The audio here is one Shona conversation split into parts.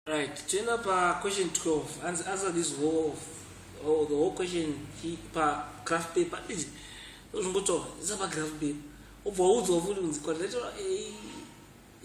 Right, toenda pa question 12. Answer, answer this whole, oh, the whole question he, pa graph paper. Iji, zvongotaura, isa pa graph paper. Obva waudzwa futi kunzi quadrilateral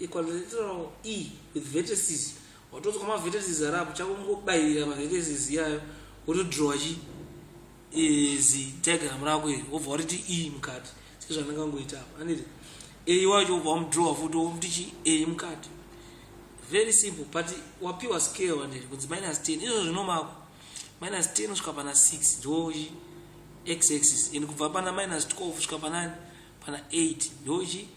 A, quadrilateral E with vertices. Watodzwa ma vertices arapo, chako ngobairira ma vertices iyayo, wotodrowa chii? izi diagram rako iri wobva wariti e mukati sezvandangangoita apa anditi a wacho wobva wamudrowa futi womuti chi a mukati very simple but wapiwa scale wandiri kunzi minus 10 izvo zvinomako minus 10 kusvika pana 6 ndochi x axis and kubva pana minus 12 kusvika panani pana 8 ndochi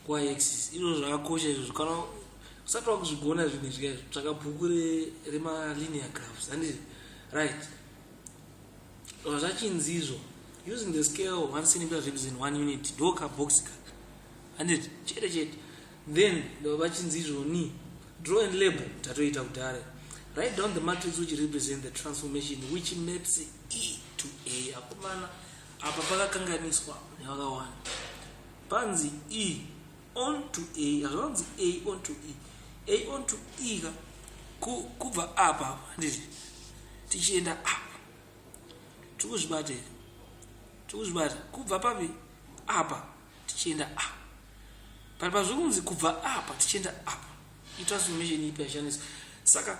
y axis izvo zvakakosha izvozvo kana usati wakuzvigona zvinhu izvi kaizvo tsvaka bhuku remalinear graphs anditi right zvachinzizvo using the scale 1 centimeter ribs in 1 unit doka box ka handiti chete chete then vachinzizvo ni draw and label tatoita kudare write down the matrix which represent the transformation which maps e to a akomana apa pakakanganiswa nevakawanda panzi e on to a hazvanzi a on to e a on to e ka kubva apa handiti tichienda apa tiri kuzvibata here tiri kuzvibata kubva papi apa tichienda apa pari pazviri kunzi kubva apa tichienda apa He transformation ipi yashandiswa. Saka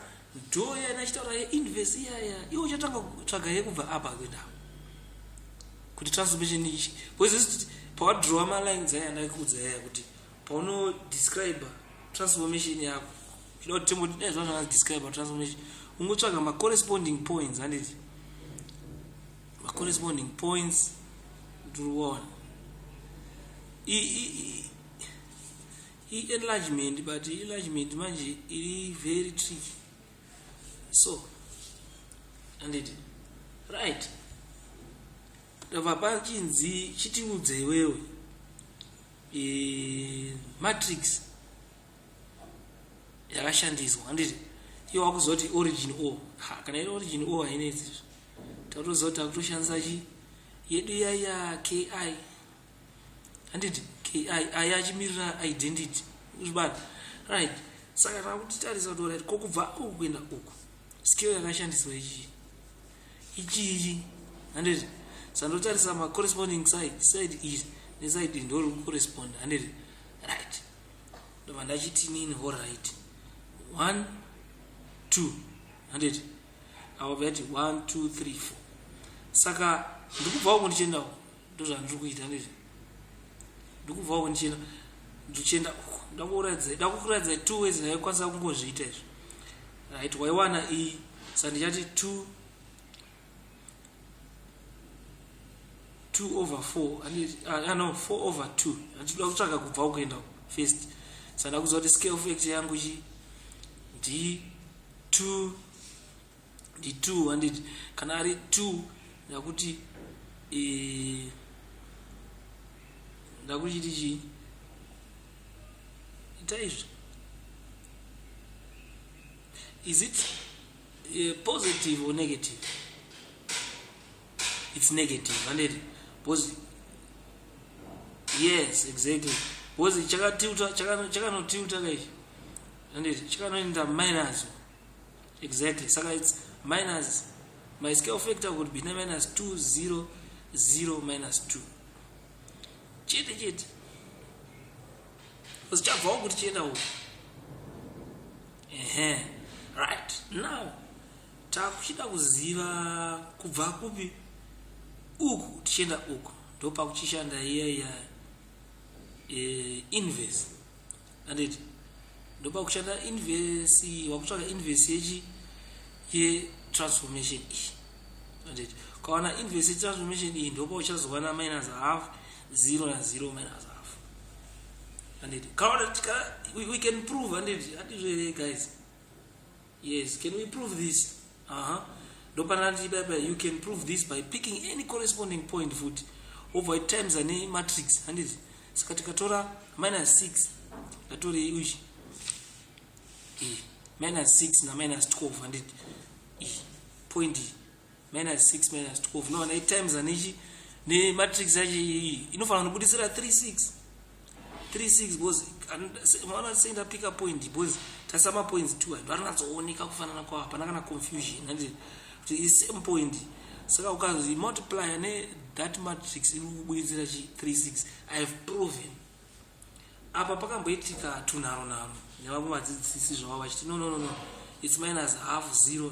door yana chitaura ye inverse iya iya. Iwe uchatanga kutsvaga yekubva apa kuenda. Kuti transformation ichi. Because this pawa draw ma lines aya ndakudza aya kuti pauno describe transformation yako. Chinoda kuti timboti nezva zvanga describe transformation. Ungotsvaga ma corresponding points handiti. Ma corresponding points ndiri kuona. I i i-enlargement but i-enlargement manje iri very tricky so anditi right ndava pachinzi chitiudze iwewe e, matrix yakashandiswa handiti iyo wakuzoti origin o ha kana iri origin o hainetsi takutoziva kuti takutoshandisa chi yedu yaya ki handiti ki aya achimirira identity uzvibata right saka takutitarisa kuti orit ko kubva uku kuenda uku skill yakashandiswa ichii ichii handiti sandotarisa macorresponding side side iri neside iri ndori kucorrespond handiti right ndobva ndachiti nini ho right one two handiti avo vati one two three four saka ndikubva uku ndichienda uku ndozvandiri kuita ndizvi ndikubvawo ndichienda ndichienda uko ndakuratidza ndakukuratidza two ways ndaikwanisa kungozviita izvi right waiwana iyi sa ndichati two two over four ah, no four over two anditoda kutsvaga kubva ukuenda first sa ndakuziva kuti scale factor yangu chi ndi two ndi two handiti kana ari two ndakuti e, ndakuchiti chii ita izvi is it uh, positive or negative it's negative handiti because yes exactly because chakatiuta chakanotiuta kaichi handiti chakanoenda minus exactly saka its minus my scale factor would be minus 2 0 0 minus 2 chete chete because chabvawo kuti chienda uku ehe right now takuchida kuziva kubva kupi uku tichienda uku ndopakuchishanda iya iya e, inverse anditi ndoba kushanda invesi wakutsvaga invesi yechi yetransformation iyi anditi ukawana invesi yetransformation iyi ndoba uchazowana minus half zero na zero minus half anditi kaona tika we, we can prove anditi hatizvere guys Yes, can we prove this? Aha. Ndopana ndati baba you can prove this by picking any corresponding point futi. Over times ane matrix handiti. Saka tikatora minus 6 ndatore uchi. E minus 6 na minus 12 handiti. E point minus 6 minus 12 no nei times anechi ne matrix yacho iyi inofanira kunobudisira 36 36 because maona sei ndapika point because tasa mapoints two anhu anonatsooneka kufanana kwavo hapana kana confusion handiti kuti i same point saka ukazi multiplier ne that matrix iri kubudisira chi 36 i have proven apa pakamboitika tunharo nharo nevamwe vadzidzisi zvavo vachiti no no no no it's minus half zero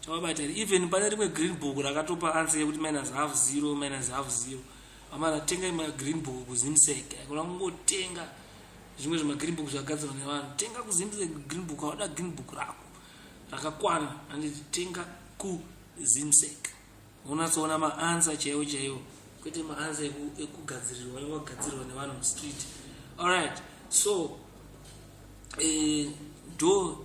chawabata here even pane rimwe green book rakatopa answer yekuti minus half zero minus half zero amana tenga ima green book kuzimsek kuna kungotenga zvimwe zvemagreen book zvagadzirwa nevanhu tenga kuzimsek green book aoda green book rako rakakwana anditi tenga kuzimsek unatsoona maansa chaiwo chaiwo kwete maansa ekugadzirirwa anenge agadzirirwa nevanhu mustreet allright so eh, do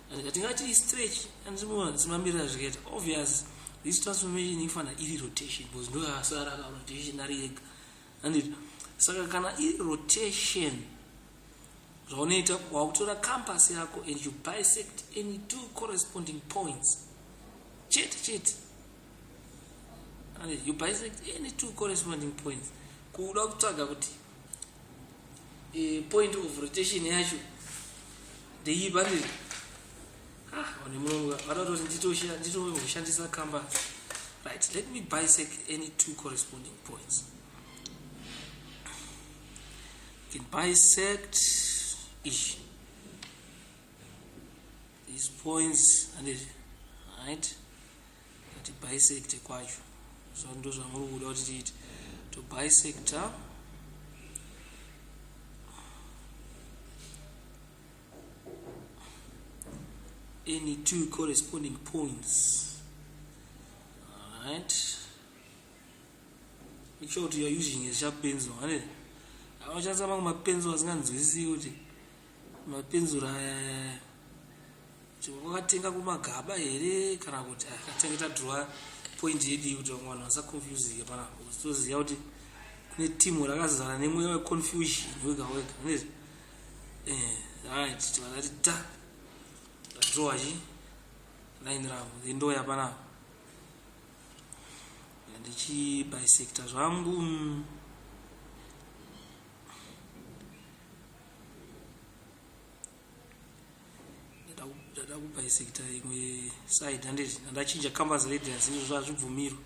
tingati istretch and zimamirira zvikaita obvious this transformation ifanira iri rotation because ndo yasara ka rotation ari yega andit saka kana iri rotation zvaunoita wakutora campus yako and you bisect any two corresponding points chete chete andit you bisect any two corresponding points kuda kutsvaga kuti e, point of rotation yacho ndeiyi bandiri ah, one mulongo vatatori nditoshandisa kamba right let me bisect any two corresponding points you can bisect ish these points and it right kuti bisect kwacho so ndozvamuri kuda kuti tiite to bisector any two corresponding points alright make sure kuti you're using a sharp pencil ane anoshandisa mamwe mapencil asinganzwisisi kuti mapenzura aya aya wakatenga kumagaba here kana kuti akatenga tadhura point yedii kuti vamwe vanhu vasaconfusike panapo toziva kuti kune timu rakazara nemweya weconfusion wega wega nezvi eh, right tivakati ta tadhura chi line ravo endoya panapo ndichibisecta zvangu mm. ndada kupa isekita imwe side handiti ndandachinja campus radius izvo zvazvibvumirwe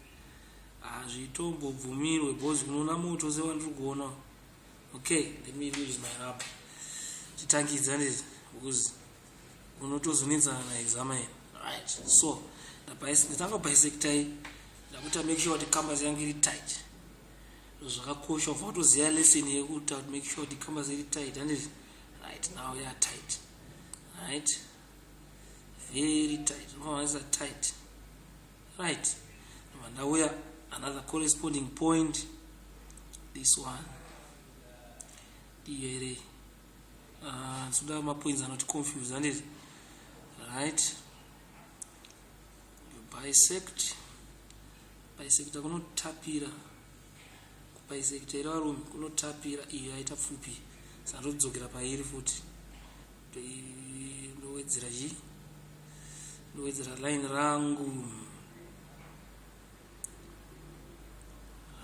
hazvitombobvumirwe bcause unoona moto sewandiri kuona okay let me use my rub titangidza handiti bcause unotozonetsana na exama ino right so nditanga kupa isekita iyi ndakuita make sure kuti campus yangu iri tight zvakakosha kubva watoziva lesson yekuta kuti make sure kuti kamba ziri tight handiti right now ya tight right very tight nomavanisa tight right noma ndauya another corresponding point this one diyere ah, soda mapoints anoti confuse handiti right bisect bisecta kunotapira kubisecta iri varume kunotapira iyo yaita pfupi saka ndodzokera pairi futi ndowedzera chi ndowedzera line rangu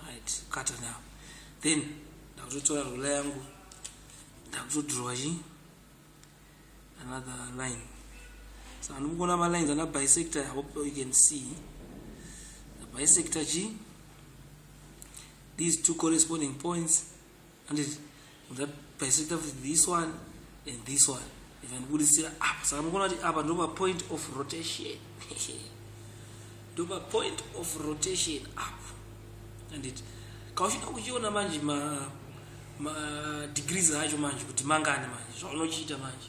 right kata now then ndakutotora rula yangu ndakutodhirowa chi another line so anokugona ma lines ana bisector i hope you can see the bisector g these two corresponding points and it, that bisector with this one and this one ikanibudisira apa saka mukona kuti apa ndopa point of rotation ndopa point of rotation apa handiti kauchida kuchiona manje ma madegrees acho manje kuti mangani manje zvaunochiita manje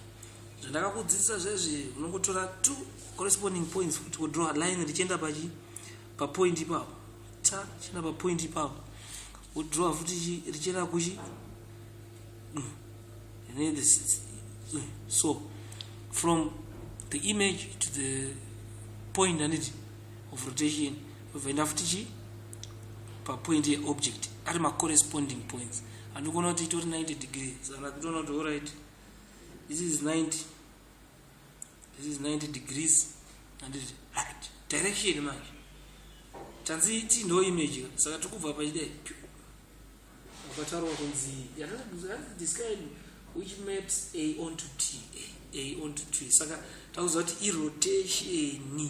zvandakakudzidzisa zvezvi unongotora two corresponding points kuti wodraw line richienda pachi papoint ipapo ta chienda papoint ipapo wodraw futi richienda kuchi mm. mm. so from the image to the point anditi of rotation ozoenda futi chii papoint yeobject ari macorresponding points anokona kuti itori 90 degree saka kutoona kuti orit this is 90 this is 90 degrees anditi right direction manje tanzi ti no image saka tikubva pachidai ukataurwa kunzi yatadiscin which maps a on to t a on to t saka takuziva kuti irotation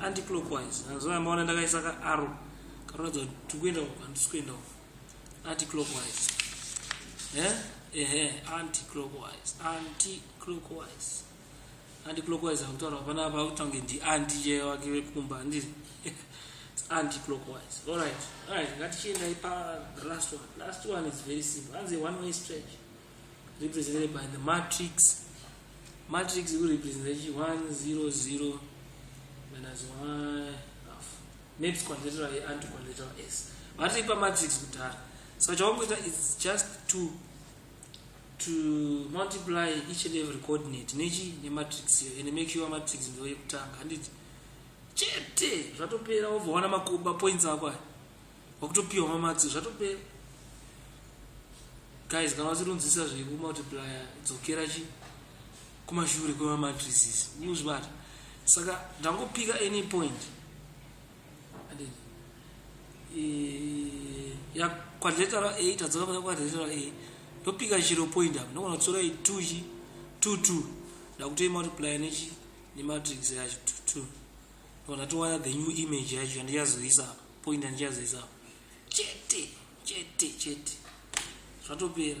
anticlockwise hanzvana maona ndakaisa ka aro kanoratidza kuti tiri kuenda uko handisi kuenda uko anticlockwise eh? ehe anticlockwise anticlockwise anticlockwise akutaura hapana apa akutange ndi anti chaiye wake vekumba handiri anticlockwise allright allright ngatichiendai pa last one last one is very simple hanzi one way stretch represented by the matrix matrix ikurepresenta chi 100 minus y half net quadrilateral ye anti quadrilateral s vatiri pamatrix kudhara so chawangoita is just to to multiply each and every coordinate nechi nematrix iyo and make sure matrix ndo yekutanga handiti chete zvatopera wovaona makuba points ako aya Wakutopiwa mamatsi zvatopera. Guys kana wasirinzisa zveku multiplier dzokera chi kumashure kwema matrices. Muzvibata. Saka ndangopika any point. And eh ya quadrate ra 8 adzoka kuna quadrate ra 8. Ndopika chiro point apo. Ndokona kutsora 2 chi 2 2. Ndakutoyi multiplier nechi ne matrix yacho 2 2. Ndokona towana the new image yacho yandichazoisa apa. point andichazoisa chete chete chete zvatopera